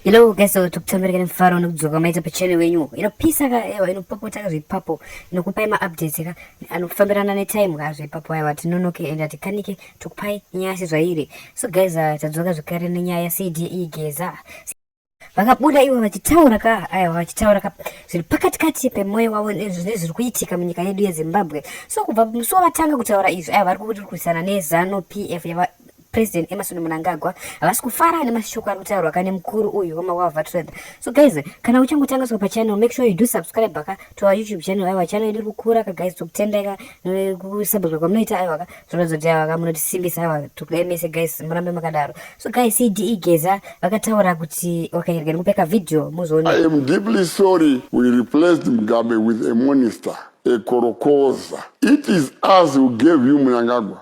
Hello guys, so tukutambereka nemufaro nekudzoka maita pachannel wenyu inopisa ka ewa inopopota ka zvepapo inokupai maupdates ka anofambirana netime ka zvepapo aiwa tinonoke and atikanike tokupai nyaya sezvairi so guys uh, tadzoka zvekare nenyaya yacde geza vakabuda ivo vachitaura ka aiwa vachitaura ka zviri pakati kati pemwoyo wavo nezviri kuitika munyika yedu yezimbabwe so kubva musi wavatanga kutaura izvi aiwa vari kurwisana nezanu pf President Emerson Mnangagwa havasi kufara nemashoko ari kutaurwa kane mukuru uyu wemaWalva Trade. So guys, kana uchangotanga swa pachannel, make sure you do subscribe baka to our YouTube channel. Aiwa channel iri kukura ka guys, tokutendeka nekusubscribe kwamunoita aiwa ka. Zvinozo kuti aiwa ka munotisimbisa aiwa tokudai mese guys, murambe makadaro. So guys, CDE Geza vakataura kuti wakanyerga nekupeka video muzoona. I am deeply sorry we replaced Mugabe with a minister, a korokoza. It is us who gave you Mnangagwa.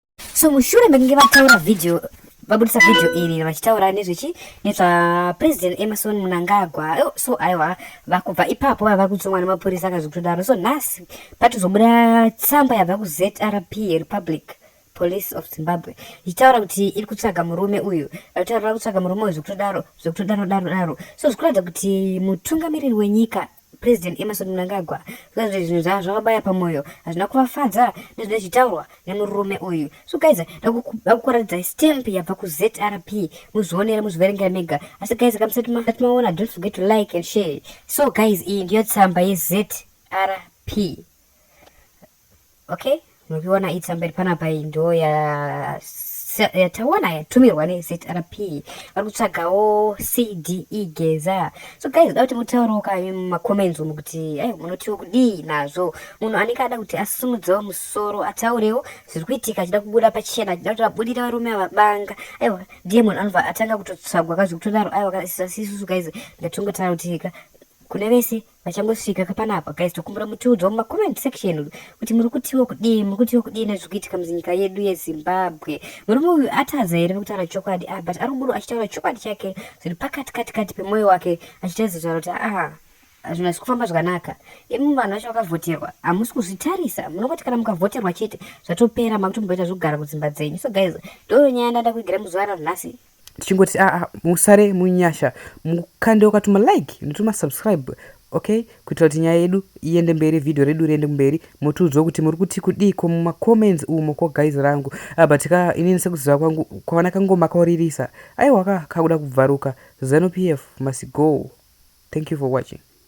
so mushure mekunge vataura video vabudisa video iri vachitaura nezvechi nezvapresident emerson munangagwa oh, so aiwa vakubva ipapo vava kutsongwa nemapurisa akazvikutodaro so nhasi patozobuda tsamba yabva kuzrp republic police of zimbabwe ichitaura kuti iri kutsvaga murume uyu vataura kutsvaga murume uyu zvekutodaro zvekutodaro daro daro so zvikuratidza kuti mutungamiriri wenyika President Emmerson Mnangagwa zvikanzi kuti zvinhu zvavo zvakabaya pamoyo hazvina kuvafadza nezvine zvitaurwa nemurume uyu so guys dakukuratidzai stamp yabva kuzrp muzvionere muzviverengera mega asi guys kamusati maona don't forget to like and share so guys iyi ndiyo tsamba yezrp Okay, mukiona itsa mberi panapa iyi ndo ya yatawana yatumirwa nezrp vari kutsvagawo cde geza so guys da kuti mutaurewo ka mumacomments umu kuti ai munotiwo kudii nazvo munhu anenge ada kuti asimudzewo musoro ataurewo zviri kuitika achida kubuda pachena achida kuti vabudira varume avabanga aiwa ndiye munhu anobva atanga kutotsvagwa ka zvekutodaro aiwa kasisisusu guys ndatongotaura kuti ka kune vese vachangosvika kapanapa guys tokumbura mutiudzwa mumacomment section kuti muri kutiwo kudii muri kutiwo kudii nezviri kuitika muzinyika yedu yezimbabwe murume uyu atadza here nekutaura chokwadi ah, but ari kungoro achitaura chokwadi chake zviri pakati kati kati pemwoyo wake achitaridza kutaura kuti aha zvinhu hazvi kufamba zvakanaka imi vanhu vacho vakavhoterwa hamusi kuzvitarisa munongoti kana mukavhoterwa chete zvatopera makutomboita zvekugara kudzimba dzenyu so guys ndoyo nyaya ndanda kuigira muzuva ranhasi tichingoti aa ah, ah, musare munyasha mukande ukatuma like ndotuma subscribe okay kuitira kuti nyaya yedu iende mberi vhidhiyo redu riende kumberi motiudzwa kuti muri kuti kudii ko mumacomments umo ko guys rangu ah, but ka inini sekuziva kwangu kwavana kangoma kauririsa aiwa ka kakuda kubvaruka zanupf must go thank you for watching